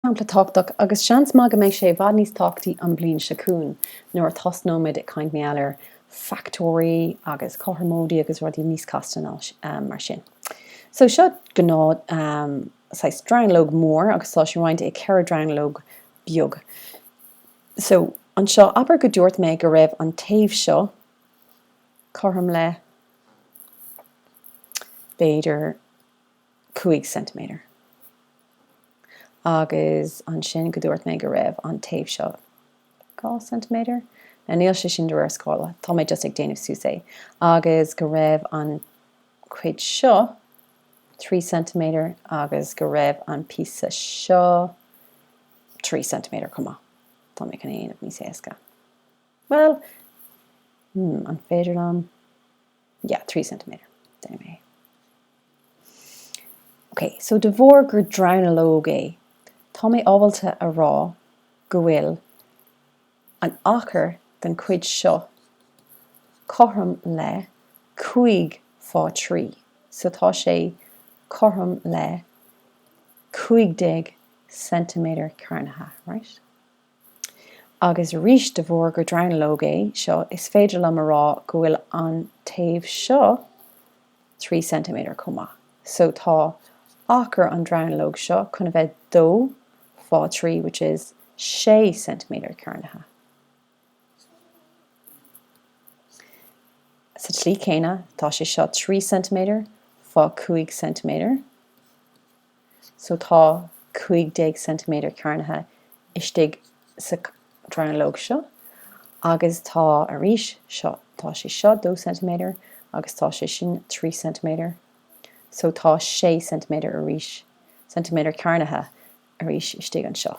Sampla tábhachtach, agus seans maith go mbeidh sé i bhfad níos tábhachtaí an bhliain seo chugainn, nuair a thosnóimid ag caint mar gheall ar fachtóirí agus cothromóidí agus rudaí níos casta ná mar sin. So seo gnáth saghas dronuilleog mór agus tá sé roinnte i 4 dronuilleog beag. So anseo, abair go dúirt mé go raibh an taobh seo cothrom le, b'fhéidir, cúig ceintiméadar. Agus ansin go dúirt mé go raibh an taobh seo dhá ceintiméadar. Now níl sé sin de réir scála, tá mé just ag déanamh suas é. Agus go raibh an chuid seo trí ceintiméadar agus go raibh an píosa seo trí ceintiméadar chomh maith. Tá mé chun é a dhéanamh níos éasca. Bhuel, hmm, an féidir liom. yeah, trí ceintiméadar, déanfaidh mé. Ok, so de bharr gur dronuilleog é, tá mé ábalta a rá go bhfuil an achar den chuid seo cothrom le cúig fá thrí, so tá sé cothrom le cúig déag ceintiméadar cearnaithe, right? Agus arís, de bharr gur dronuilleog é seo, is féidir liom a rá go bhfuil an taobh seo trí ceintiméadar chomh maith. So, tá achar an dronuilleog seo chun a bheith dó fá thrí, which is sé ceintiméadar cearnaithe. Sa tslí chéanna, tá sé seo trí ceintiméadar fá chúig ceintiméadar. so tá 15 ceintiméadar cearnaithe istigh sa dronuilleog seo agus tá arís seo, tá sé seo 2 ceintiméadar agus tá sé sin 3 ceintiméadar so tá 6 ceintiméadar arís, ceintiméadar cearnaithe arís istigh anseo.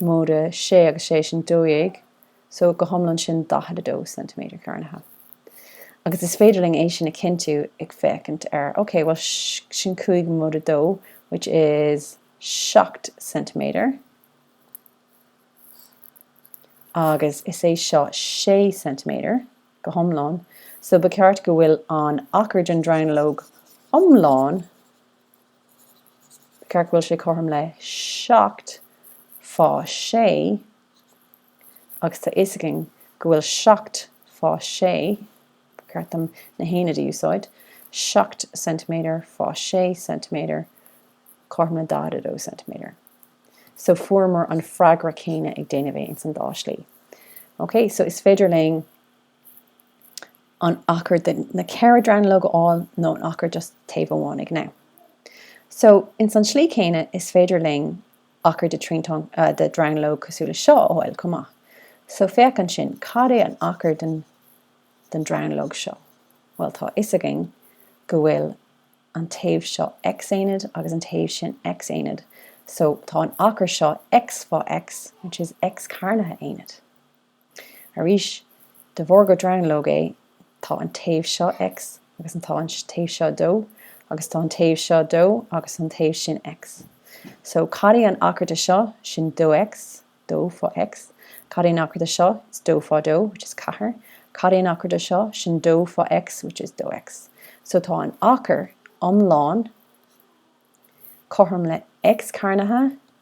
móide 6 agus 6 sin 12, so go hiomlán sin 42 ceintiméadar cearnaithe. Agus is féidir linn é sin a chinntiú ag féachaint ar, ok, bhuel, sin 5 móide 2, which is 7 ceintiméadar, agus is é seo 6 ceintiméadar go hiomlán, so ba cheart go bhfuil an achar den dronuilleog iomlán ceart go bhfuil sé cothrom le seacht fá sé agus tá a fhios againn go bhfuil seacht fá sé, ba cheart dom na haonaid a úsáid, seacht ceintiméadar fá sé ceintiméadar cothrom le 42 ceintiméadar. So fuaireamar an freagra céanna ag déanamh é ins an dá slí. Ok, so is féidir linn. an achar de na ceithre dronuilleog a fháil nó an achar just taobh amháin ag Now. So, ins an tslí céanna, is féidir linn achar de triantán de dhronuilleog cosúil le seo a fháil chomh maith. So, féach ansin, cad é an achar den den dronuilleog seo? Bhuel, tá a fhios againn go bhfuil an taobh seo x-aonad agus an taobh sin x-aonad. So, tá an achar seo x fá x, which is x cearnaithe aonad. Arís, de bharr gur dronuilleog é, tá an taobh seo X agus an tá an taobh seo dó agus tá an taobh seo dó agus an taobh sin X. So, cad é an achar de seo, sin dó X, dó fá X, cad é an achar de seo, it's dó fá dó, which is ceathair, cad é an achar de seo, sin dó fá X, which is dó X. So, tá an achar iomlán cothrom le X cearnaithe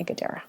ag a deireadh.